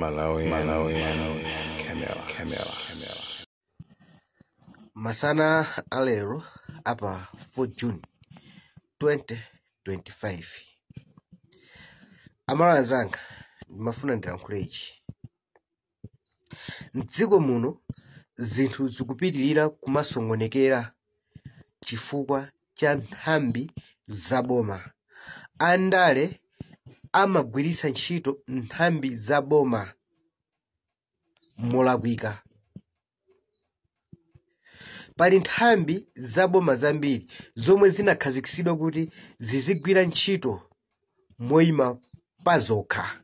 Malawian Camera. masana alero apa 4 june 2025 amalawi anzanga ndimafuna ndilankhule ichi mdziko muno zinthu zikupitirira kumasongonekera chifukwa cha nthambi za boma. Andale amagwiritsa ntchito nthambi za boma molakwika. Pali nthambi za boma zambiri zomwe zinakhazikitsidwa kuti zizigwira ntchito moima pazokha.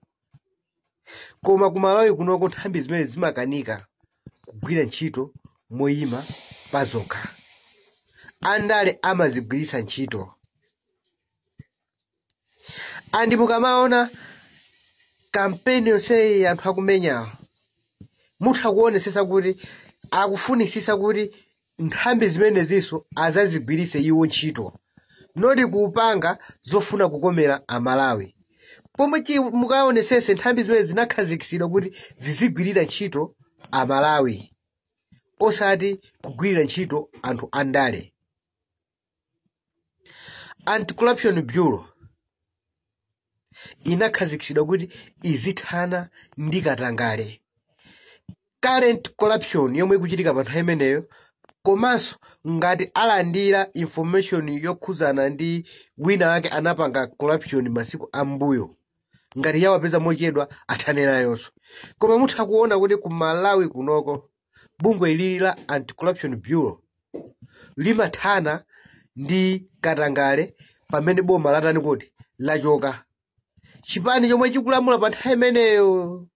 koma ku malawi kunoko nthambi zimenezi zimakanika kugwira ntchito moyima pazokha andale amazigwiritsa ntchito andi mukamaona kampeni yonseyi anthu akumenyawo mutha kuonesesa kuti akufunisisa kuti nthambi zimenezinso azazigwiritse iwo ntchito noti kupanga zofuna kukomera amalawi pomwe chi- mukaonesese nthambi zimenezi zinakhazikitsidwa kuti zizigwirira ntchito amalawi osati kugwirira ntchito anthu andale anti-corruption bureau inakhazikitsidwa kuti izithana ndi katangale current corruption yomwe ikuchitika pa nthawi imeneyo komanso ngati alandira information yokhudzana ndi wina wake anapanga corruption masiku ambuyo ngati yawapeza mochedwa athane nayonso koma mutha kuona kuti ku malawi kunoko bungwe ilili la anti-corruption bureau limathana ndi katangale pamene boma latani kuti lachoka chipani chomwe chikulamula pa nthawi imeneyo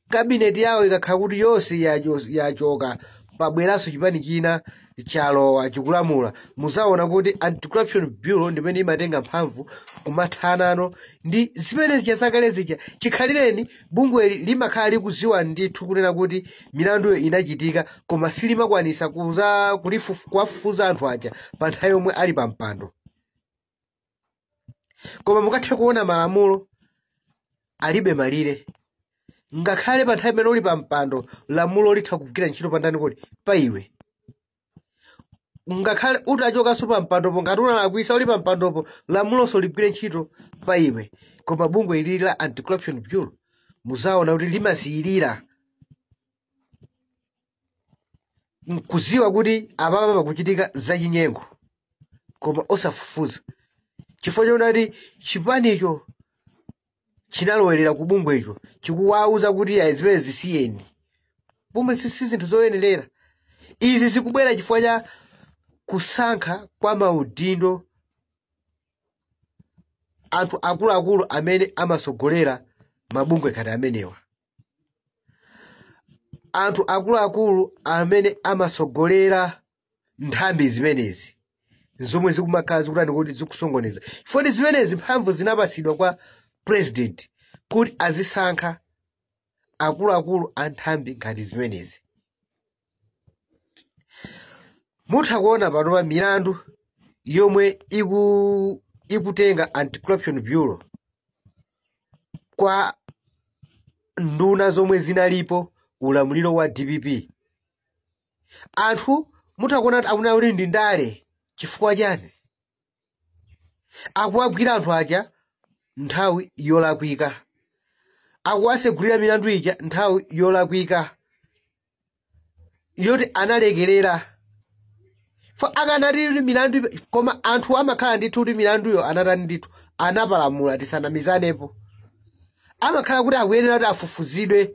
kabineti yawo ikakhala kuti yonse yacho- yachoka pabweranso chipani china chalowa chikulamula muzaona kuti anti-corruption bureau ndi pomwe imatenga mphamvu kumathanano ndi zimene zija zakale zija chikhalireni bungweli limakhala likuziwa ndithu kunena kuti milanduyo inachitika koma silimakwanisa kuza kulifufu- kuwafufuza anthu aja pa nthawi yomwe ali pa mpando koma mukathe kuona malamulo alibe malire ngakhale pa nthawi imene uli pa mpando lamulo litha kugwira ntchito pandani kuti pa iwe ngakhale utachokanso pa mpandopo ngati unalakwisa uli pa mpandopo lamulonso ligwire ntchito pa iwe koma bungwe ilili la anti corruption bureau muzaona kuti limasiyirira mkuziwa kuti apapa pakuchitika zachinyengo koma osafufuza chifukwa choona kuti chipanicho chinalowerera ku bungwecho chikuwauza kuti ayi zimene zisiyeni pomwe si si zinthu zoyenerera izi zikubwera chifukwa cha kusankha kwa maudindo anthu akuluakulu amene amasogolera mabungwe ngati amenewa anthu akuluakulu amene amasogolera nthambi zimenezi zomwe zikumakhala zikutani kodi zikusokoneza chifukwa zimenezi mphamvu zinapasidwa kwa president kuti azisankha akuluakulu a nthambi ngati zimenezi mutha kuona panopa milandu yomwe iku ikutenga anti-corruption bureau kwa nduna zomwe zinalipo ulamuliro wa dpp anthu mutha kuona kuti akunena kuti ndi ndale chifukwa chani akuwagwira anthu aja nthawi yolakwika akuwasegulira milandu ija nthawi yolakwika yoti analekerera fo akanati milandu ibe- koma anthu amakhala ndithu kuti milanduyo anatani ndithu anapalamula tisanamizanepo amakhala kuti akuyenera kuti afufuzidwe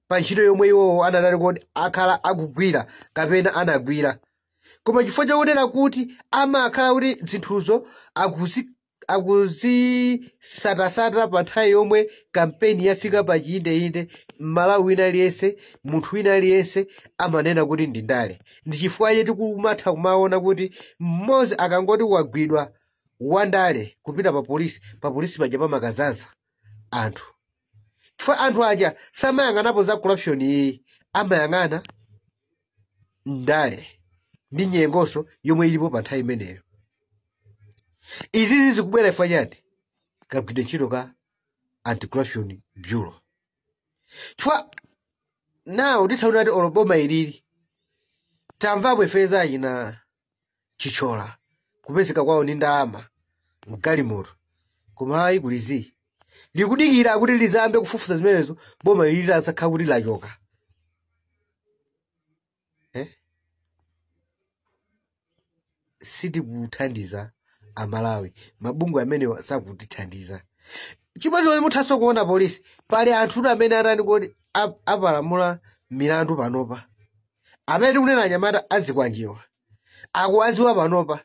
pa ntchito yomwe iwowo anatani kodi akhala akugwira kapena anagwira koma chifukwa chakunena kuti amakhala kuti zinthuzo akuzi akuzisatasata pa nthawi yomwe kampeni yafika pa chiyindeyinde mmalawi wina aliyense munthu wina aliyense amanena kuti ndi ndale ndi chifukwa chake tikumatha kumaona kuti mmodzi akangoti wagwidwa wandale kupita pa polisi pa polisi paja pamakazaza anthu chifukwa anthu aja samayang'anapo za corruption ayi amayang'ana ndale ndi nyengonso yomwe ilipo pa nthawi imeneyo izizi zikubwera chifukwa chani kagwidwe ntchito ka anti corruption bureau chifukwa nawo titha kunena kuti olo boma ilili tamvapo ife za achina chithyola kupezeka kwawo ndi ndalama mgalimoto koma ayi kuli zii likudikira kuti lizayambe kufufuza zimenezo boma ilili litazakhala kuti lachoka eh? sitikuthandiza amalawi mabungwe amenewa sakutithandiza chimodzimodzi muthanso kuona polisi pali anthu amene atani kodi ap- apalamula milandu panopa amene tikunena anyamata azikwanje awa akuwaziwa panopa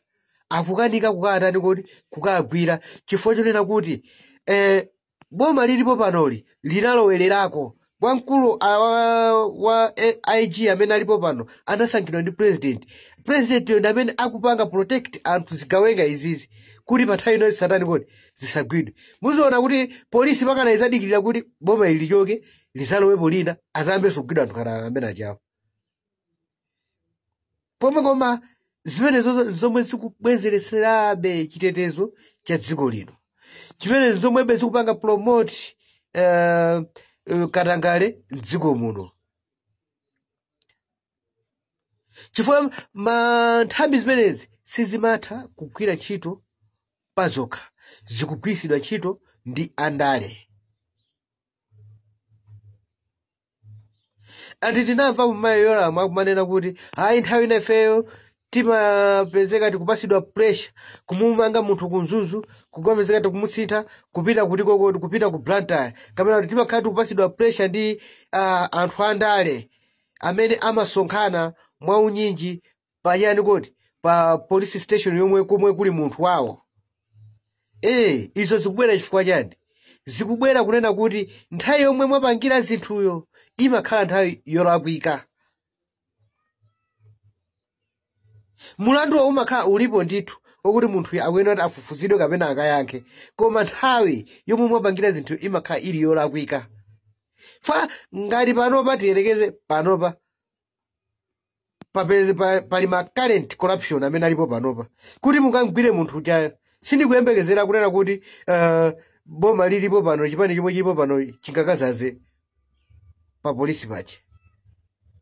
akukanika kukatani kodi kukagwira chifukwa chonena kuti eh, boma lilipo panoli linalowererako wamkulu a- wa, wa eh, ig amene alipo pano anasankhidwa ndi president president yo ndi amene akupanga protect anthu zigawenga izizi kuti pa nthawi inonse satani kodi zisagwidwe muziona kuti polisi mpakana izadikirira kuti boma ili lichoke lizalowepo lina azayambenso kugwidwa anthu ngati amene ajawo pomwe koma zimenezo zomwe zikubwezeretserabe chitetezo cha dziko lino zimene zomwebe zikupanga promote eh, eh, katangale mdziko muno chifukwa ma nthambi zimenezi sizimatha kugwira ntchito pazokha zikugwiritsidwa ntchito ndi andale ati tinamvapo mayi yoramu akumanena kuti ayi nthawi ina ifeyo timapezeka tikupasidwa pressure kumumanga munthu ku mzuzu kukapezeka tikumusintha kupita kuti kodi kupita ku blantyre kapena kuti timakhala tikupasidwa pressure ndi uh, anthu andale amene amasonkhana mwaunyinji pachani kodi pa police station yomwe komwe kuli munthu wawo ee izo zikubwera chifukwa chani zikubwera kunena kuti nthawi yomwe mwapangira zinthuyo imakhala nthawi yolakwika mulanduwo umakhala ulipo ndithu okuti munthuyo akuyenera kuti afufuzidwe kapena akayankhe koma nthawi yomwe mwapangira zinthu imakhala ili yolakwika fa ngati panopa tiyerekeze panopa papeze pa, pali ma current corruption amene alipo panopa kuti mukamgwire munthu ujayo sindikuyembekezera kunena kuti uh, boma lilipo pano chipani chomwe chilipo pano chingakazaze pa polisi pache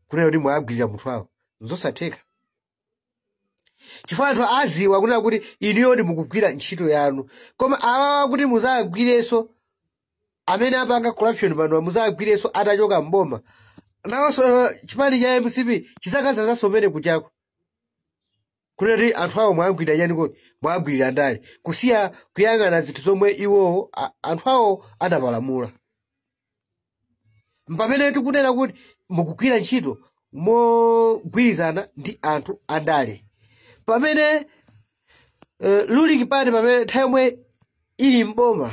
kunena kuti mwagwirira munthu awo nzosatheka chifukwa anthu aziwa kunena kuti inuyo ndi mukugwira ntchito yanu koma awawa kuti muzagwirenso amene apanga corruption panowa muzagwirenso atachoka mboma nawonso chipani cha mcp chizakazazanso komwe kujako kunena kuti anthu awo mwagwirira chani kodi mwagwirira ndale kusiya kuyang'ana zinthu zomwe iwowo a- anthu awo adapalamula mpamene tikunena kuti mukugwira ntchito mogwirizana ndi anthu andale pamene uh, ruling party pamene nthawi yomwe ili mboma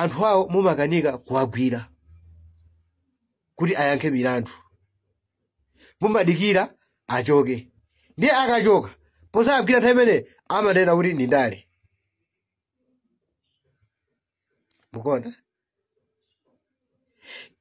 anthu awo mumakanika kuwagwira kuti ayankhe milandu mumadikira achoke ndiye akachoka pozawagwira nthawi imene amanena kuti ndi ndale mukuona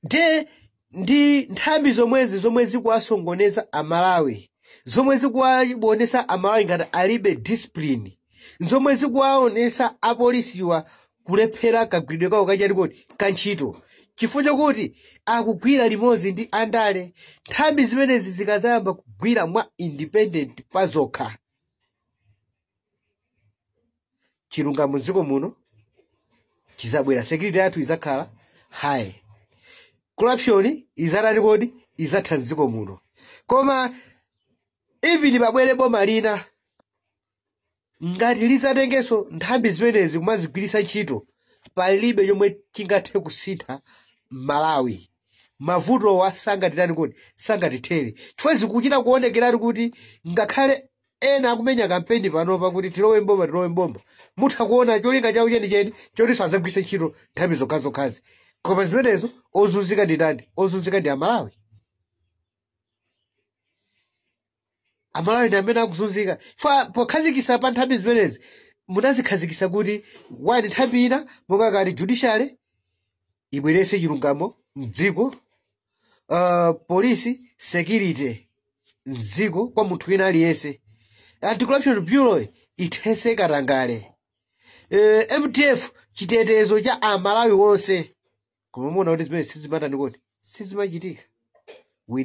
nde ndi nthambi zomwezi zomwe zikuwasongoneza amalawi zomwe zikuwaonesa amalawi ngati alibe discipline zomwe zikuwaonesa apolisiwa kulephera kagwiridwe kawo kachani kodi ka ntchito chifukwa chakuti akugwira limodzi ndi andale nthambi zimenezi zikazayamba kugwira mwa independent pazokha chilungamo mdziko muno chizabwera security yathu izakhala high corruption izatani kodi izatha mdziko muno koma even pabwere boma lina ngati lizatengenso nthambi zimenezi kumazigwiritsa ntchito palibe chomwe chingathe kusintha mmalawi mavutowa sangatitani kodi sangatithere chifukwa zikuchita kuonekeratu kuti ngakhale ena akumenya kampeni panopa kuti tilowe mboma tilowe mboma mutha kuona cholinga chawo chenicheni chotinso adzagwiritse ntchito nthambi zokhazokhazi koma zimenezo ozunzika ndi ndani ozunzika ndi amalawi amalawi ndi amene akuzunzika fa pokhazikisa pa nthambi zimenezi munazikhazikisa kuti wani nthambi ina monga ngati judiciary ibwerese chilungamo mdziko uh, polisi security mdziko kwa munthu wina aliyense anti-corruption bureau ithese katangale uh, mdf chitetezo cha amalawi onse koma mumaona kuti zimenezi sizimatani kodi sizimachitika we